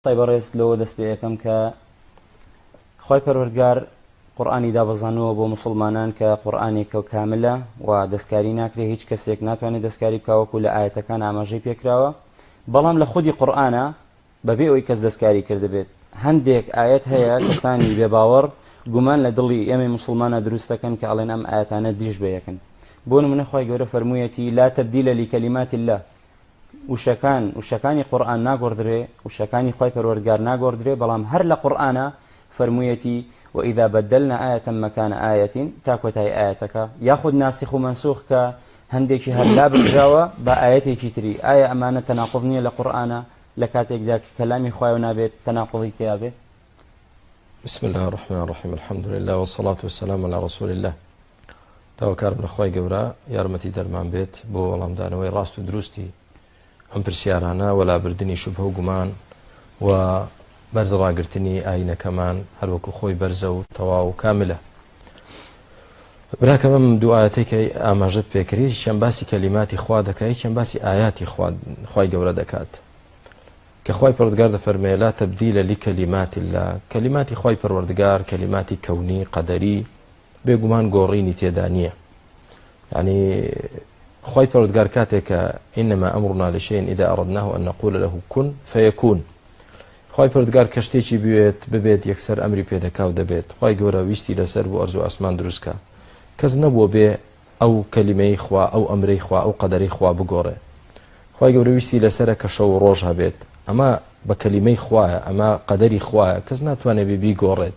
قسەی بەڕێز لەوە دەست پێ ئەکەم کە خوای پەروەردگار قورئانی دابەزانووە بۆ مسلمانان کە قورئانێکە کاملە و دەستکاری ناکرێ هیچ کەسێک ناتوانێت دەستکاری بکاوەکو لە ئاەتەکان ئاماژەی پێکراوە بەڵام لە خودی قورآە بەبێ ئەوی کەس دەستکاری کردبێت هەندێک ئاەت هەیە کەسانی بێ باوەڕ گومان لە دڵی ئێمە مسلمانە دروستەکەن کە ئەڵێن ئەم ئاەتانە دیش بەیەکن بۆ منە خی گەورە فەرموویەتی لا تبدیلە لیکەلیماتی لە وشەکان وشەکانی قورئان ناگۆڕدرێ وشەکانی خوای پەروەردگار ناگۆڕدرێ بەڵام هەر لە قورئانا فەرموویەتی وإذا بدلنا آیەتم مکان آیەتین تا کۆتایی ئایەتەکە یاخود ناسخ و منسوخ کە هەندێکی هەر لابرژاوە بە ئایەتێکی تری ئایا ئەمانە تەناقض نییە لە قورئانا لە کاتێکدا کە کەلامی خوایەوە نابێت تەناقضی تیا بێت بسم الله الرحمن الرحیم الحمد لله والصلاة والسلام على رسول الله داواکارم لە خوای گەورە یارمەتی دەرمان بێت بۆ وەڵامدانەوەی ڕاست و دروستی ئەم پرسیارانە وە لابردننی شوبهە و گومان و بەرز ڕاگررتنی ئاینەکەمان هەروەکو خۆی بەرزە و تەواو و کاملە براکەم ئەم دوعاەتێکی ئاماژت پێکری چەند باسی کەلیماتی خوا دەکای چەند باسی ئاياتی خی گەورە دەکات کە خی پرودگار دەفەرمێ لا تبدیلە لی کەلیماتی لا کەلیماتی خی پەروەردگار کەلیماتی کەونی قەدەری بێ گومان گۆڕینی تێدا نییە یعنی خی پەرودگار کاتێک کە ئینەما ئەمڕنا لە شێن ئیدا ئەڕدناه ئە نەقول لە هوکون فەیەکون خی پردگار کە شتێکی بوێت ببێت یەکسەر ئەمری پێدەکاو دەبێت خی گەورە ویستی لەسەر بۆ ئەرزو ئاسمان دروستکە کەس نەبووە بێ ئەو کەلیمەی خوا ئەو ئەمرەی خوا ئەو قەدەری خوا بگۆڕێ خی گەورە ویستی لەسرە کە شەو و ڕۆژ هەبێت ئەمە بە کەلیمەی خوایە ئەمە قەدەری خوایە کەس ناتوانێت ببی گۆڕێت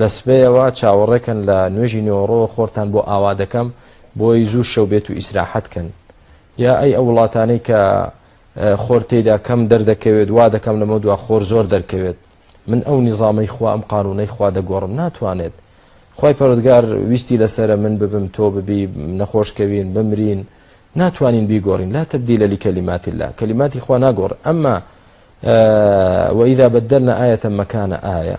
لە سبەیەوە چاوەڕێکەن لە نوێژی نۆرۆ خۆرتان بۆ ئاوا دەکەم بۆی زوو شەو بێت و ئیسراحەت کەن یا ئەی ئەو وڵاتانەی کە خۆر تێدا کەم دەردەکەوێت وا دەکەم لەمە دوا خۆر زۆر دەرکەوێت من ئەو نیزامەی خوا ئەم قانونەی خوا دەگۆڕم ناتوانێت خی پەرۆدگار ویستی لەسرە من ببم تۆ ببی نەخۆشکەوین بمرین ناتوانین بیگۆڕین لا تبدیل لە کەلیمات لا کەلیماتی خوا ناگۆڕ ئەمما وەیدا بەدەرنە ئاەتە مەکانە ئایا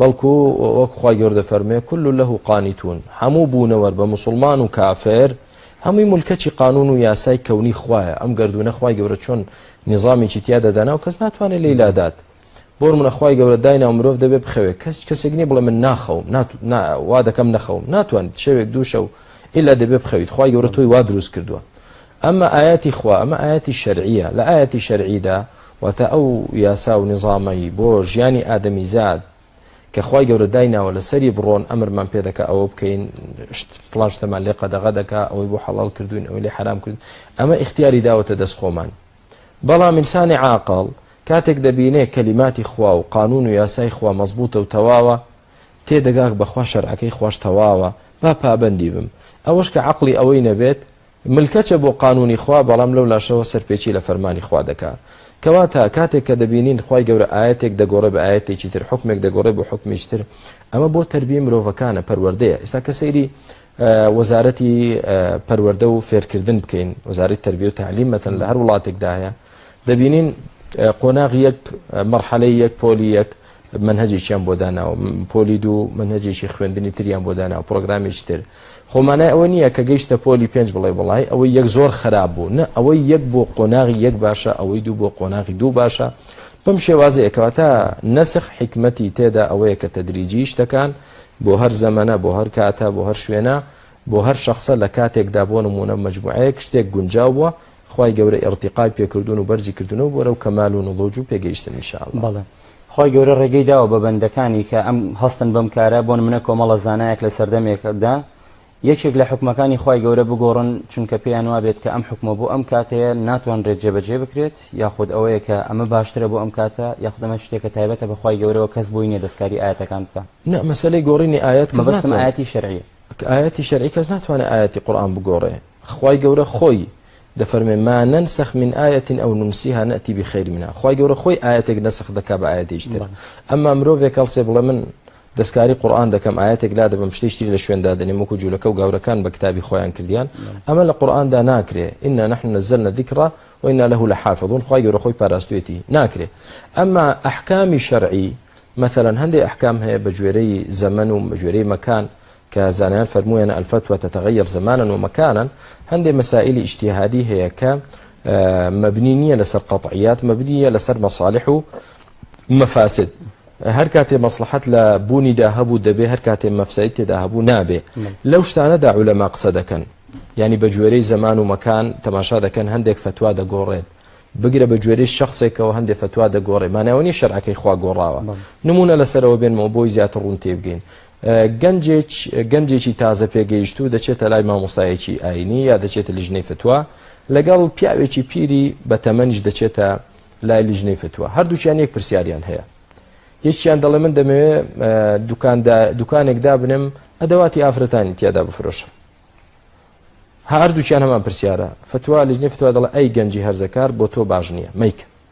بەڵکو وەک خوای گەورە دەفەرموێ کل له قانتون هەموو بوونەوەر بە مسلمان و کافر هەمووی ملکەچی قانون و یاسای کەونی خوایە ئەم گردونە خوای گەورە چۆن نظامیی تیادا دانا و کەس ناتوانێت لی لادات بۆ منەخوای گەورە داینا و مرۆڤ دەبێت بخەوێت کەس کەسێک نیە بڵێ من ناخەوم وا دەکەم نەخەوم ناتوانیت شەوێک دوو شەو ئللا دەبێت بخەویت خخوای گەورە تۆی وا دروست کردووە ئەمە ئایەتی خوا ئەمە ئایەتی شەرعیە لە ئایەتی شەرعیدا واتە ئەو یاسا و نیزامەی بۆ ژیانی ئادەمیزاد کە خوای گەورە دایناوە لەسەری بڕۆن ئەمرمان پێ دەکە ئەوە بکەین فلان شتەمان لێ قەدەغە دەکا ئەوەی بۆ حەڵال کردوین ئەوەی لێ حرام کرد ئەمە اختیاری داوەتە دەست خۆمان بەڵام ئینسانی عاقڵ کاتێک دەبینێ کەلیماتی خوا و قانون و یاسای خوا مەزبوطە و تەواوە تێدەگاک بەخوا شەرعەکەی خوش تەواوە با پابندی بم ئەوەش کە عقلی ئەوەی نەبێت ملکەچە بۆ قانونی خوا بەڵام لەو لاشەوە سەرپێچی لە فەرمانی خوا دەکا کەواتە کاتێک کە دەبینین خوای گەورە ئایەتێک دەگۆڕێ بە ئایەتێکی تر حوکمێک دەگۆڕێ بۆ حوکمیش تر ئەمە بۆ تربیە مرۆڤەکانە پەروەردەیە ئێستا کە سەیری وەزارەتی پەروەردە و فێرکردن بکەین وەزارەت تربیە و تعلیم مەتەن لە هەر وڵاتێکدا هەیە دەبینین قۆناغ یەک مەرحەلەی یەک پۆلی یەک مەنهەجێکیان بۆ داناوە پۆلی دوو مەنهەجێکی خوێندنی تریان بۆ داناوە پرۆگرامێکی تر خۆمانای ئەوە نییە کە گەیشتە پۆلی پێنج بڵێ بڵای ئەوەی یەک زۆر خراپ بوو نە ئەوەی یەک بۆ قۆناغی یەک باشە ئەوەی دوو بۆ قۆناغی دوو باشە بەم شێوازەیەکەوە تا نەسخ حکمەتی تێدا ئەوەیە کە تەدریجی شتەکان بۆ هەر زەمەە بۆ هەر کاتە بۆ هەر شوێنە بۆ هەر شخصە لە کاتێکدا بۆ نمونە مجموعەیەک شتێک گونجاو بووە خوای گەورە ئیڕتیقای پێکردوون و بەرزی کردوونەوە بۆرەو کەمال و نڵوج و پێگەیشتن ان شاء اللە. بەڵێ خوای گەورە ڕێگەی داوە بە بەندەکانی کە ئەم هەستن بەم کارە بۆ نمونە کۆمەڵە زانایەک لە سەردەمێک دا یەکێک لە حوکمەکانی خوای گەورە بگۆڕن چونکە پێیان وابێت کە ئەم حوکمە بۆ ئەم کاتەیە ناتوانرێت جێبەجێ بکرێت یاخود ئەوەیە کە ئەمە باشترە بۆ ئەم کاتە یاخود ئەمە شتێکە تایبەتە بە خوای گەورەوە کەس بۆی نیە دەستکاری ئایەتەکان بکا نا مەسەلەی گۆڕینی ئایەت کەس ناتوانێت مەبەستم ئایەتی شەرعیە ئایەتی شەرعی کەس ناتوانێت ئایەتی قورئان بگۆڕێ. خوای گەورە خۆی دەفەرموێ ما ننسخ من آیە او ننسیها ناتی بخیر منها خوای گەورە خۆی ئایەتێک نەسخ دەکا بە ئایەتێکی تر ئەمما مرۆڤێک هەڵسێ بڵێ من دەستکاری قورئان دەکەم ئاەتێک لا دەبم شتێکی تری لە شوێندا دەنێم وەکو جوولەکە و گاورەکان بە کتابی خۆیان کردیان ئەمە لە قورئاندا ناکرێ ئینا نحن نزلنا الذکر وإنا له لحافظون خوای گەورە خۆی پاراستوێتی ناکرێ ئەمما ئەحکامی شەرعی مثلا هەندێک ئەحکام هەیە بە گوێرەی زەمەن و بە گوێرەی مەکان کە زانایان فەرموویانە الفتوە تتغیر زمانا و مکانا هەندێ مەسائلی ئیجتیهادی هەیە کە مەبنی نییە لەسەر قەطعیات مەبنیە لەسەر مەصالح و مەفاسد هەر کاتێ مەصلحەت لە بوونیدا هەبوو دەبێ هەر کاتێ مەفسایت تێدا هەبوو نابێ لەو شتانەدا عولەما قسە دەکەن ینی بە گوێرەی زەمان و مەکان تەماشا دەکەن هەندێک فتووا دەگۆڕێت بگرە بە گوێرەی شخصێکەوە هەندێک فتووا دەگۆڕێ ماناوەنی شەرعەکەی خوا گۆڕاوە نمونە لەسەرەوە بێنمەوە بۆی زیاتر ڕوون تێبگەین گەنجێک گەنجێکی تازە پێگەیشتوو دەچێتە لای مامۆستایەکی ئاینی یا دەچێتە لیژنەی فتووە لەگەڵ پیاوێکی پیری بە تەمەنیش دەچێتە لای لیژنەی فتووە هەردووچیان یەک پرسیاریان هەیە یەکیان دەڵێ من دەمەوێت دوکانێک دابنم ئەدەواتی ئافرەتانی تیادا بفرۆشم هەردووچیان هەمان پرسیارە فتووا لیژنەی فتووا دەڵێ ئەی گەنجی هەرزەکار بۆ تۆ باش نییە میکە